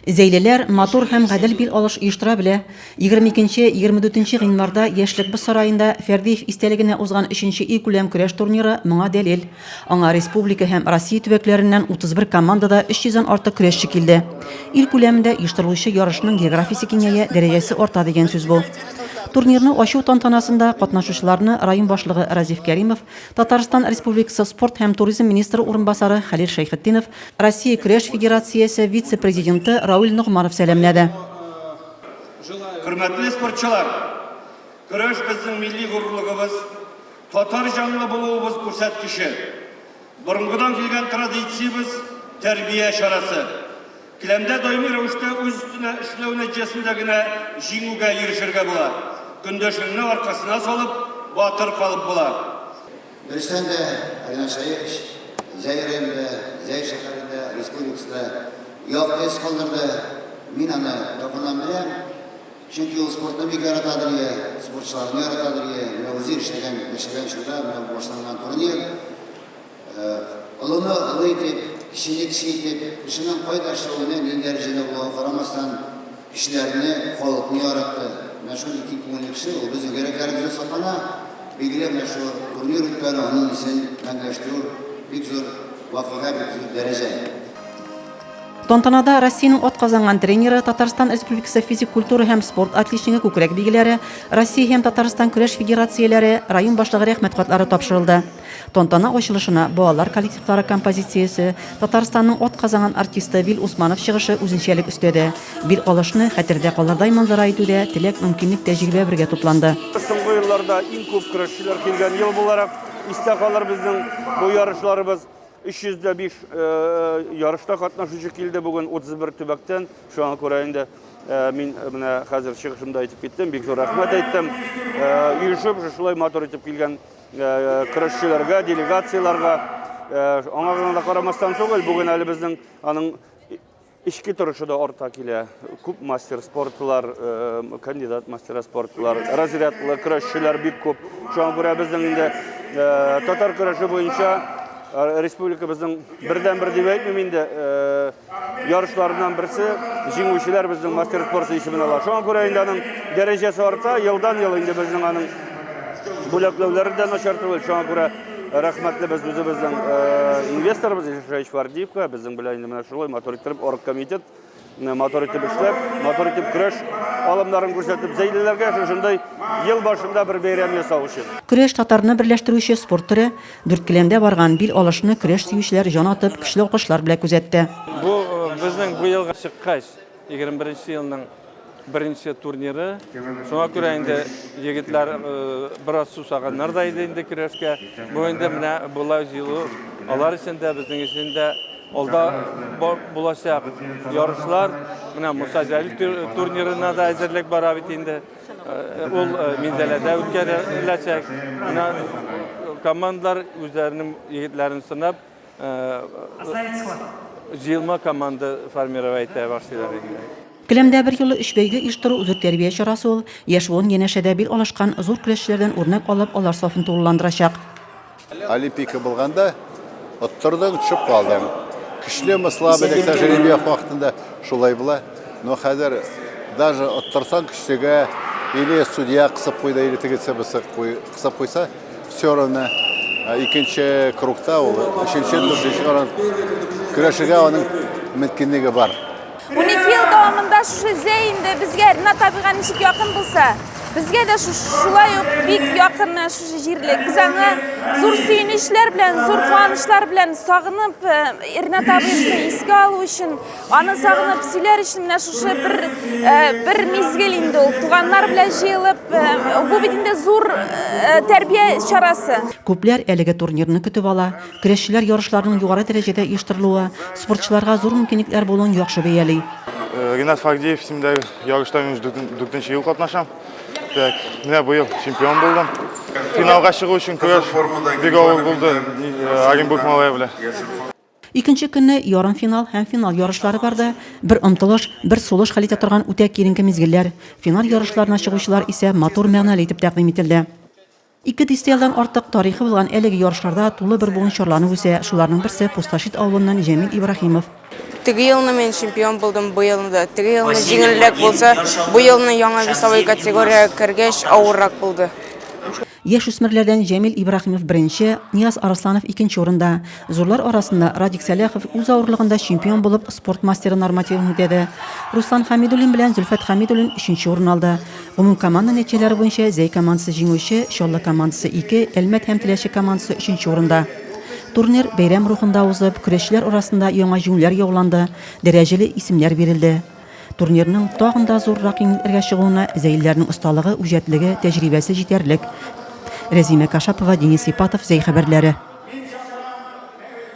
Зәйлеләр матур һәм гадел бил алыш оештыра белә. Егерме икенче, егерме дүртенче гыйнварда Яшьлекбыз сараенда Фәрдиев истәлегенә узган өченче илкүләм көрәш турниры моңа дәлил. Аңа республика һәм Россия төбәкләреннән 31 командада 300 дән артык көрәшче килде. Ил күләмендә оештырылучы ярышның географиясе киңәя, дәрәҗәсе арта дигән сүз бу. Турнирны ачу тантанасында катнашучыларны район башлыгы Разиф Кәримов, Татарстан Республикасы спорт һәм туризм министры урынбасары Хәлил Шәйхетдинов, Россия көрәш федерациясе вице-президенты Рауль Ногманов сәламләде. Хөрмәтле спортчылар! Көрәш безнең милли горурлыгыбыз, татар җанлы булуыбыз күрсәткече. Борынгыдан килгән традициябез, тәрбия чарасы. Келәмдә даими рәвештә үз өстенә эшләү нәтиҗәсендә генә җиңүгә ирешергә була. Көндәшеңне аркасына салып, батыр калып була. Берестән дә Ринат Шәрипович Зәй районында, Зәй шәһәрендә, республикасында якты эз калдырды. Мин аны якыннан беләм. Чөнки ул спортны бик яратадыр иде, спортчыларны яратадыр иде. Менә үзе эшләгән, яшәгән чорда менә бу башланган турнир. Олыны олы итеп, кечене кече итеп, кешенең кай дәрәҗәдә, нинди дәрәҗәдә булуга карамастан, Кешеләрне, халыкны яратты. Мәшһүр ике күңелле кеше, ул безнең йөрәкләребездә саклана. Билгеле, мәшһүр турнир үткәрү, аның исемен мәңгеләштерү, бик зур вакыйга, бик зур дәрәҗә. Тантанада Россиянең атказанган тренеры, Татарстан Республикасы физик культура һәм спорт отличнигы күкрәк билгеләре, Россия һәм Татарстан көрәш федерацияләре, район башлыгы Рәхмәт хатлары тапшырылды. Тантана ачылышына балалар коллективлары композициясе, Татарстанның атказанган артисты Вил Усманов чыгышы үзенчәлек өстәде. Бер алышны хәтердә калырдай манзара итүдә теләк, мөмкинлек, тәҗрибә бергә тупланды. Соңгы елларда иң күп көрәшчеләр килгән ел буларак истә калыр безнең бу ярышларыбыз. 305 ярышта катнашучы килде бүген 31 төбәктән. Шуңа күрә инде мин менә хәзер чыгышымда әйтеп киттем, бик зур рәхмәт әйттем. Оешып, шушылай матур итеп килгән көрәшчеләргә, делегацияләргә аңа гына да карамастан түгел, бүген әле безнең аның Ишки торышы да арта килә. Күп мастер спортлар, э, кандидат мастер спортлар, разрядлы көрәшчеләр бик күп. Шуңа күрә безнең инде э, татар көрәше буенча э, республикабызның бердән-бер дип әйтмим инде, ярышларыннан берсе җиңүчеләр безнең мастер спорты исемен ала. Шуңа күрә инде аның дәрәҗәсе арта, елдан-ел инде безнең аның бүләкләүләре дә начар түгел. Шуңа күрә рәхмәтле без үзебезнең инвесторыбыз Ишай Швардиевка, безнең белән инде менә шулай матур итеп оргкомитет матур итеп эшләп, матур итеп көрәш алымнарын күрсәтеп, зәйлеләргә шушындай ел башында бер бәйрәм ясау өчен. Көрәш татарны берләштерүче спорт төре. Дүрткеләмдә барган бил алышны көрәш сөючеләр җан атып, көчле алкышлар белә күзәтте. Бу безнең быелгы чыккач 21 нче елның беренче турниры. Шуңа күрә инде егетләр бераз сусаганнар да иде инде көрәшкә. Бу инде менә болай җыелу алар өчен дә, безнең өчен дә алда булачак ярышлар. Менә Муса Җәлил турнирына да әзерлек бара бит инде. Ул Минзәләдә үткәреләчәк. Менә командалар үзләренең егетләрен сынап, җыелма команда формировать итә башлыйлар инде. Келәмдә берьюлы өч бәйге оештыру зур тәрбия чарасы ул. Яшь буын янәшәдә бил алышкан зур көрәшчеләрдән үрнәк алып, алар сафын тулыландырачак. Олимпика булганда оттырдың, төшеп калдың. Көчлеме, слабы, дик тәҗрибә вакытында шулай була. Но хәзер даже оттырсаң көчлегә или судья кысып куйды, или тегесе кысып куйса, все равно э, икенче кругта ул, өченче, дүртенче каран көрәшергә аның мөмкинлеге бар. 12 ел дәвамында шушы зә инде безгә Ренат табига ничек якын булса, безгә дә шулай ук бик якын шушы җирлек. Без аны зур сөенечләр белән, зур куанычлар белән сагынып, Ренат абыйны искә алу өчен, аны сагынып сөйләр өчен менә шушы бер бер мизгел инде ул. Туганнар белән җыелып, бу бит инде зур тәрбия чарасы. Күпләр әлеге турнирны көтеп ала, Көрәшчеләр ярышларының югары дәрәҗәдә оештырылуы, спортчыларга зур мөмкинлекләр булуын яхшы бәяли. Э, Ринат Фагдиев исемендәге ярышта мин дүртенче ел катнашам. Так, менә быел чемпион булдым. Финалга чыгу өчен көрәш бик авыр булды э, Оренбург малае белән. Икенче көнне ярым финал һәм финал ярышлары барды. Бер омтылыш, бер сулыш хәл итә торган үтә киеренке мизгелләр. Финал ярышларына чыгучылар исә матур мәгънәле итеп тәкъдим ителде. Ике дистәелдан артык тарихы булган әлеге ярышларда тулы бер буын чарланып үсә, шуларның берсе Пустошит авылыннан Җәмил Ибраһимов. Теге елны мин чемпион булдым, бу елны да. Теге елны җиңелрәк булса, бу елны яңа весовой категориягә кергәч, авыррак булды. Яшүсмерләрдән Җәмил Ибраһимов беренче, Нияз Арысланов икенче урында. Зурлар арасында Радик Сәләхов үз авырлыгында чемпион булып, спорт мастеры нормативын үтәде. Руслан Хәмидуллин белән Зөлфәт Хәмидуллин өченче урын алды. Гомумкоманда нәтиҗәләре буенча Зәй командасы җиңүче, Чаллы командасы, ике, Әлмәт һәм Теләче командасы өченче урында. Турнир бәйрәм рухында узып, көрәшчеләр арасында яңа җиңүләр яуланды, дәрәҗәле исемнәр бирелде. Турнирның тагын да зуррак еңлекләргә чыгуына зәйлеләрнең осталыгы, үҗәтлеге, тәҗрибәсе җитәрлек. Рәзимә Кашапова, Денис Ипатов, Зәй хәбәрләре.